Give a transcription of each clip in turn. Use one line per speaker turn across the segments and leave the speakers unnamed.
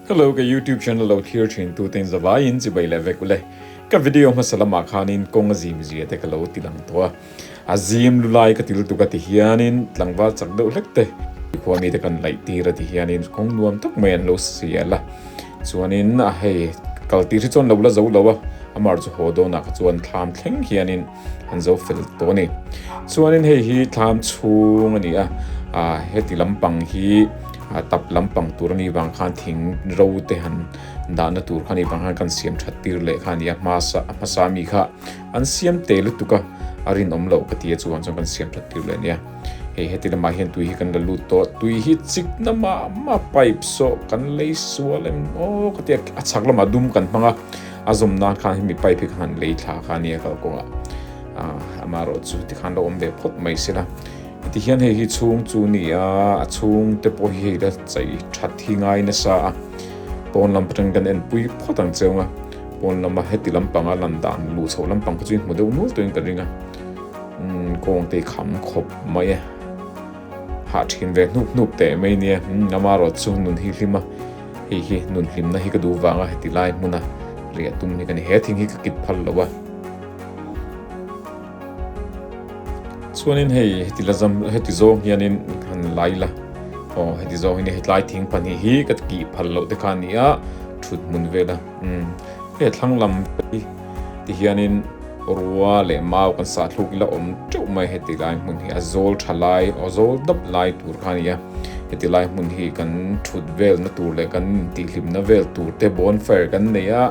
Hello, ka YouTube channel lo thlir thin tu ten zavai in chibai leh vek ule. Ka video hmasa lam ah khan in kawng a zim zia te ka lo ti lang tho a. A zim lu lai ka til tuk a ti hian in tlangval chak deuh hlek te i khua mi te kan laih tir a ti hian in kawng nuam tak mai an lo sial a. Chuan in a hei kal tih hi chuan lo la zo lo a, amar chu haw dawn ah kha chuan thlam thleng hian in an zo fel tawh a ni. Chuanin hei hi thlam chhung a ni a, heti lampang hi tap lampang tur a nih vang khan thing ro te han dahna tur kha nih vang khan kan siam that tir leh kha a ni a, hmasa hmasa mi kha an siam teh lutuk a, a rinawm lo ka ti a chuan chuan kan siam that tir leh a nia. Hei heti lamah hian tui hi kan la lut tawh, tui hi chikna mah mah pipe sawh kan lei sual em aw ka ti a, a chhak lamah dum kan hmang a. A zawm nan khan hemi pipe hi ka han lei thla kha nia kal kawng ah ah ama erawh chu tikhan lo awm ve phawt mai sila. Ti hian hei hi chhung chu ni a, a chhung te pawh hi hei la chei that hi ngai nasa a, pawn lam atang kan en pui phawt ang che awng a, pawn lama heti lampang a lan dan luh chhoh lampang kha chu i hmu deuh nual tawhin ka ring a, umm kawng te i kham khawp mai a, hah thin ve hnup hnup teh mai nia, umm ama erawh chu nun hi hlim a. Hei hi nun hlimna hi ka duh vanga heti lai hmuna riah tum hi ka ni. He thing hi ka kip phal loh a. Chuanin hei heti la zam heti zawng hianin han lai la. Aw heti zawng hian hetlai thing pahnih hi ka kih phal loh te kha a ni a, thut hmun vela. Umm. Hei a thlang lam hi. Ti hianin rua leh mau kan sahthluk ila awm teuh mai heti lai hmun hi a zawl tha lai a zawl dap lai tur kha nia heti lai hmun hi kan thut vel na tur leh kan in tihhlim na vel tur te bon fire kan nei a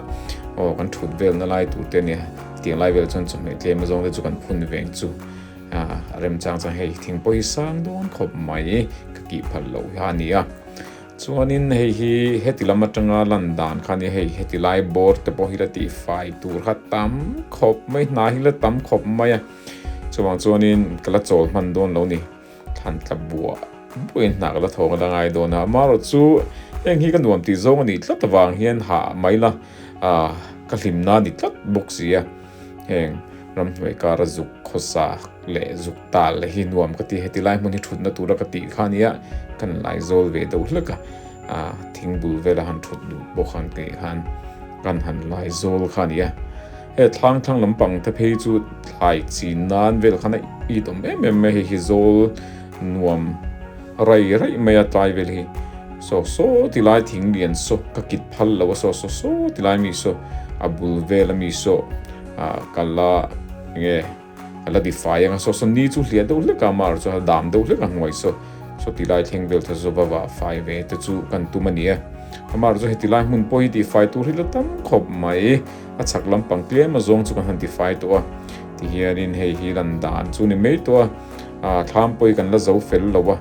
aw kan thut vel na lai tur te nia tiang lai vel chuan chawhmeh tlem zawng te chu kan phun veng chu a rem chang chang hei thingpawh hi sang dawn khawp mai ka kih phal loh hi ania. Chuanin hei hi heti lam atanga lan dan kha a ni. Hei heti lai bawr te pawh hi la tihfai tur kha tam khawp mai, hna hi la tam khawp mai a. Chuvang chuanin ka la chawl hman dawn lo ni. Thlan tla buah buain hna ka la thawk a la ngai dawn a. Amarawhchu heng hi ka nuam tih zawng a nih tlat avang hian hah mai la. Ah, ka hlim na ni tlat bawk sia. Heng ramhnuai kara zuk khawsak leh zuk tal hi nuam ka ti. Heti lai hmun hi thutna tura ka tih kha nia, kan laizawl ve do hlek a. Ah, thingbul vela han thut duh bawk ang tih khan kan han laizawl kha nia. He thlang thlang lampang te phei chu thlai chin nan vel khan a it awm em em mai, hei hi zawl nuam raih raih mai a tlai vel hi. Sawh sawh ti lai thing lian saw ka kit phal lo a sawh sawh sawh ti lai mi saw a bul vel a mi saw a kal a eng nge. a la di fai anga saw saw ni chu hliah deuh hlek a mar chuan a dam deuh hlek a hnuai saw saw ti lai thleng vel tha zawva vah fai ve te chu kan tum a ni a a mar chu heti lai hmun pawh hi ti fai tur hi la tam khawp mai a chhak lam pang tlem a zawng chu kan han ti fai tawh a ti hian in hei hi lan dan chu ni mai tawh a a thlam pawh hi kan la zo fel lo a.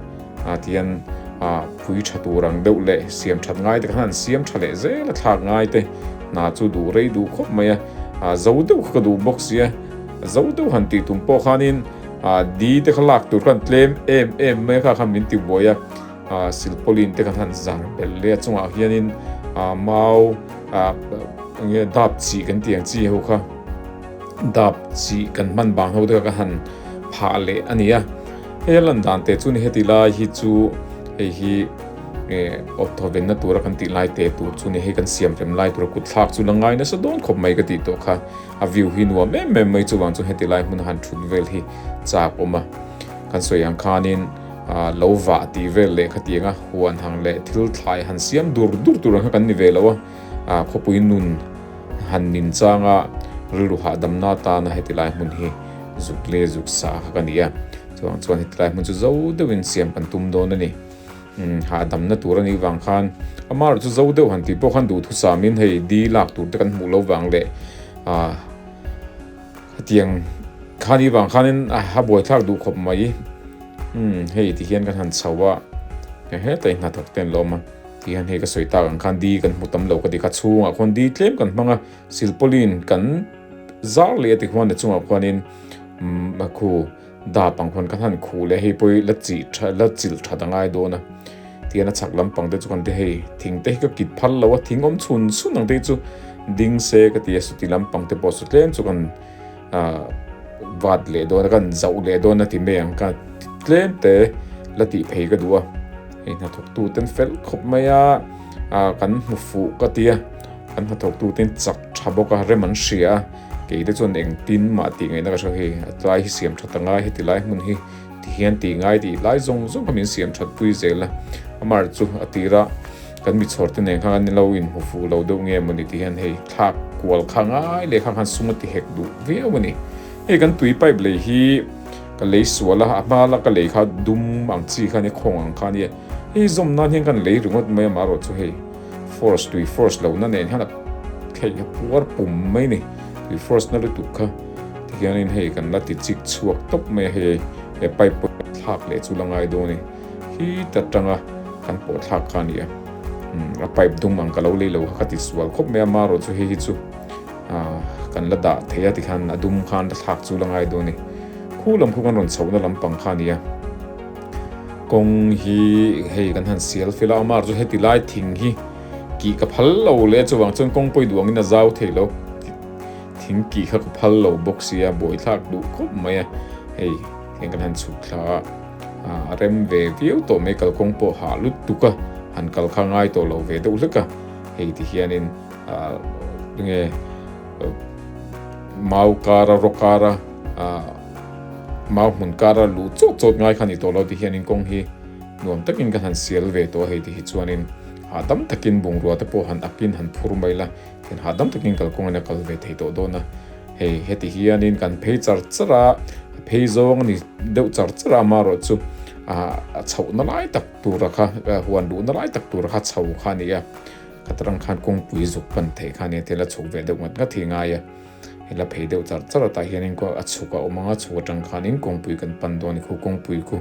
a tian a phui tha tur ang deuh leh siam that ngai te kha an siam tha leh zel a thlak ngai te hna chu duh rei duh khawp mai a a zo deuh kha ka duh bawk sia zo deuh han tih tum pawh khan in a di te kha lak tur khan tlem em em mai kha khan min ti buai a a silpawlin te kha han zan bel le a chung ah hian in a mau a nge dap chih kan ti ang chi ho kha dap chih kan hman bang ho te kha ka han phah leh a ni a Hei a lan dan teh chu ni heti lai hi chu hei hi awp thawvenna tura kan tih lai teh tur chu ni hei kan siam rem lai tura kut thlak chu la ngai nasa dawn khawp mai ka tih tawh kha a view hi nuam em em mai chuvang chuan heti lai hmun han thut vel hi chak awm a kan sawi ang khanin lo vah ti vel leh kha ti anga huan hang leh thil thlai han siam dur dur tur ang kha kan ni ve lo a. a khawpui nun han min changa rilru hahdamna atana heti lai hmun hi zuk le zuk sa kha ka nia chuvang chuan heti lai hmun chu zo deuhin siam kan tum dawn a ni hahdamna tur a nih vang khan ama erawh chu zo deuh han tih pawh khan duhthusam sam in hei di lak tur te kan hmuh lo vang leh a hetiang kha nih vang khan in a buai thlak duh khawp mai hei ti hian kan han chho a heng heng te in hnathawk te an la awm a. Tih han hei ka sawi tak ang khan di kan hmu tam lo ka ti kha chhungah khuan di tlem kan hmang a silpawlin kan zar leh a ti khuan a chungah khuanin khu dap ang khuan ka hlan khuh leh hei pawh hi la chih tha la chilh tha ta ngai dawn a tian a chhak lampang te chu kan ti hei thing te hi ka kit phal lo a thing awm chhun chhun ang te hi chu ding se ka ti a suti lampang te pawh saw tlem chu kan A vat leh dawn a ka rawn zauh leh dawn a ti mai ang kha tlem te la tih phei ka duh a, hei hnathawk tu ten fel khawp mai a kan hmu fuh ka tia kan hnathawk tu ten chak tha bawk a rem an hria a keite chuan eng tin mah tih ngaihna ka hre hei a tlai hi siam tha ta ngai heti lai hmun hi ti hian ti ngai tih lai zawng zawng kha min siam thatpui zel a Amar chu a tirah Kan michhawrte nen khan kan i lo inhmu fuh lo deuh nge maw ni tih hian hei thlak kual kha ngai leh kha khan sum a ti hek duh viau a ni. Hei kan tui pipe lei hi ka lei sual a, a hma la ka lei kha dum ang chi khan i khawng ang kha nia. Hei zawm nan hian ka lei ringawt mai a mah erawh chu hei force tui force loh na nen hian a theih a puar pum mai a ni. Tui force na lutuk kha ti hian in hei kan la ti chik chhuak tawp mai a hei pipe pawh thlak leh chu la ngai dawn a ni. Hi ta tanga kan pawh thlak kha nia a pipe dum ang ka lo lei lo ka ti sual khawp mai a ma rawh chu hei hi chu kan la dah thei a ti khan a dum khan ka thlak chu la ngai dawn a ni. Khu lam khaw kan rawn chhoh na lampang kha nia kawng hi hei kan han sial fel a a ma rawh chu heti lai thing hi kih ka phal lo le a chuvang chuan kawng pawi duh ang in a zau thei lo thing kih kha ka phal lo bawk sia buai thlak duh khawp mai a hei. Heng kan han chhuk thla a, a rem ve viau tawh mai kalkawng pawh hah lut tuk a, han kal kha ngai tawh lo ve deuh hlek a, hei ti hianin nge mau kar a, rawkar a, mau hmun kar a luh chawt chawt ngai kha ni tawh lo ti hianin kawng hi nuam takin kan han sial ve tawh a, hei ti hi chuanin hahdam takin bungrua te pawh han akin han phur mai la. Thian hah dang takin kalkawng in a kal ve thei tawh dawn a, hei heti hianin kan phei char char a, a phei zawng a ni deuh char char a, amah erawh chu a chhoh na lai tak tura kha huan luh na lai tak tura kha chho kha a ni a, khatrang khan kawngpui zuk pan theih kha a ni a, thil a chhuk ve deuh ngat ngat hi a ngai a. He la phei deuh char char atah hianin khuan a chhuk a awm ang a, chhuk atang khanin kawngpui kan pan dawn a ni. Khu kawngpui khu,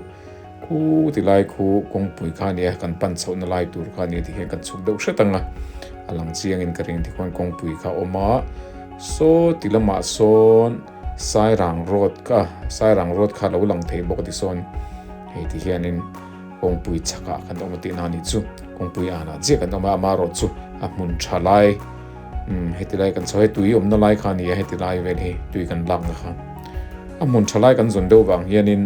khu ti lai khu kawngpui kha a ni a, kan pan chhohna lai tur kha a ni a, tikhian kan chhuk deuh hret ang a. A lang chiangin ka ring tikhuan kawngpui kha a awm a. Saw ti lamah sawn Sairang Road kha, Sairang Road kha a lo lang thei bawk a tisawn hei ti hianin kawngpui chhakah kan awm a tihna a nih chu. Kawngpui anah chiah kan awm a, amaherawhchu a hmun tha lai. Umm heti lai kan chho he tui awmna lai kha a ni a heti lai vel hi tui kan lakna kha a hmun tha lai kan zawn deuh vang hianin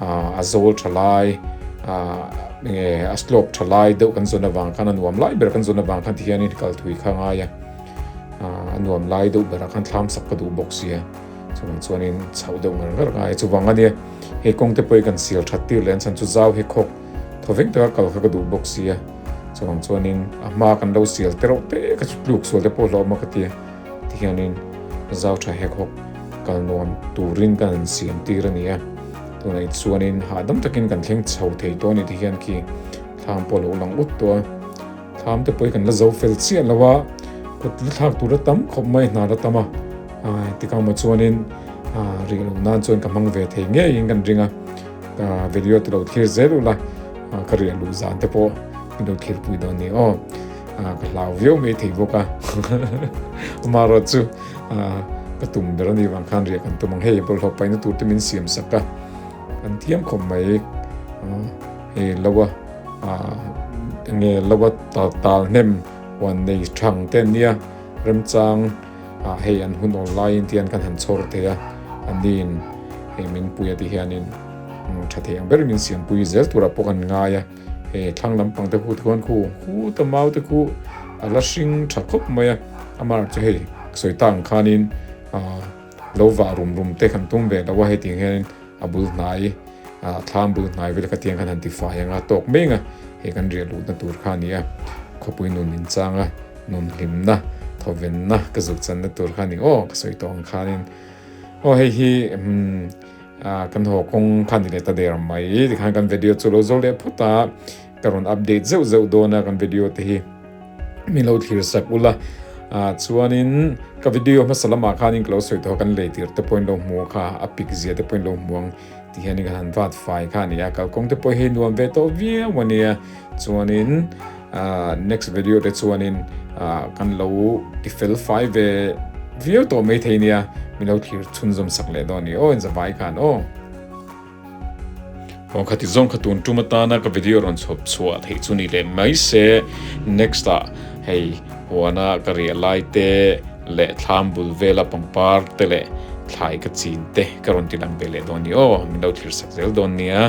ah a zawl tha lai ah eng nge a slope tha lai deuh kan zawn avang khan a nuam lai ber kan zawn avang khan tikhianin kal thui kha a ngai a ah a nuam lai deuh berah khan thlam sak ka duh bawk sia chuvang chuanin chhoh deuh ngar ngar a ngai a chuvang ania he kawngte pawh i kan sial that tir leh an chhan chu zau he khawk. thaw vek taka kal kha ka duh bawk sia, chuvang chuanin a hma kan lo sial te reuh te ka chu tluk sual te pawh hlauhawm a ka tia, tihianin zau tha hek hawk kal nuam turin ka han siam tir a nia, tunah i chuanin hahdam takin kan thleng chho thei tawh a ni tihian khi thlam pawh a lo lang ut tawh a, thlam te pawh hi kan la zo fel chiah lo a, kut la thlak tur a tam khawp mai hna la tam a, tikang maw chuanin rih lo nan chuan ka hmang ve thei ngeiin kan ring a. video te lo thlir zel ula ka riah luh zan te pawh min lo thlir pui dawn ni aw ka hlau viau mai thei bawk a maro chu ka tum ber ani vang khan riah kan tum ang hei bawlhhlawh paina tur te min siam sak a kan thiam khawm mai hei lowa nge lowa tal tal hnem wan nei thang te nia remchang a hei an hun awl lai in tian kan han chhawr thei a, a nin hei min puia tih hian in tha thei ang ber min siam pui zel tur ah pawh kan ngai a, he thlang lam pang te khu thawn khu khu ta mau te khu a la hring tha khawp mai a, amar chu hei sawi ta ang khan in lo vah rum rum te kan tum ve lo a heti hian in A bul hnai, a thlam bul hnai vel ka tiang khan han ti fai ang a, tawk meng a, hei kan riah luhna tur kha a ni a, khawpui nun inchanga, nun hlimna, thawvenna ka zuk channa tur kha a ni aw, ka sawi tawh ang khanin, aw hei hi kan haw kawng kha a ni leh ta der mai, tikhan kan video chu a lo zawr leh phut a. Ka rawn update zeuh zeuh dawn a kan video te hi. Min lo thlir sak ula ah chuanin ka video hmasa lamah khanin ka lo sawi tawh a kan lei tir te pawhin lo hmu a kha a pic zia te pawhin lo hmu ang ti hianin kan han vat fai kha a ni a. Kalkawng te pawh hi nuam ve tawh viau a nia chuanin ah next video te chuanin ah kan lo ti fel fai ve viau tawh mai thei nia. Min lo thlir chhunzawm sak leh dawn a ni aw inzavai khan aw. Kawng kha ti zawng kha tun tum atana ka video rawn chhawp chhuah theih chu ni leh mai se next ah hei huana ka riah lai te leh thlam bul vela pangpar te leh thlai ka chin te ka rawn ti lang ve leh dawn ni aw min lo thlir sak zel dawn nia.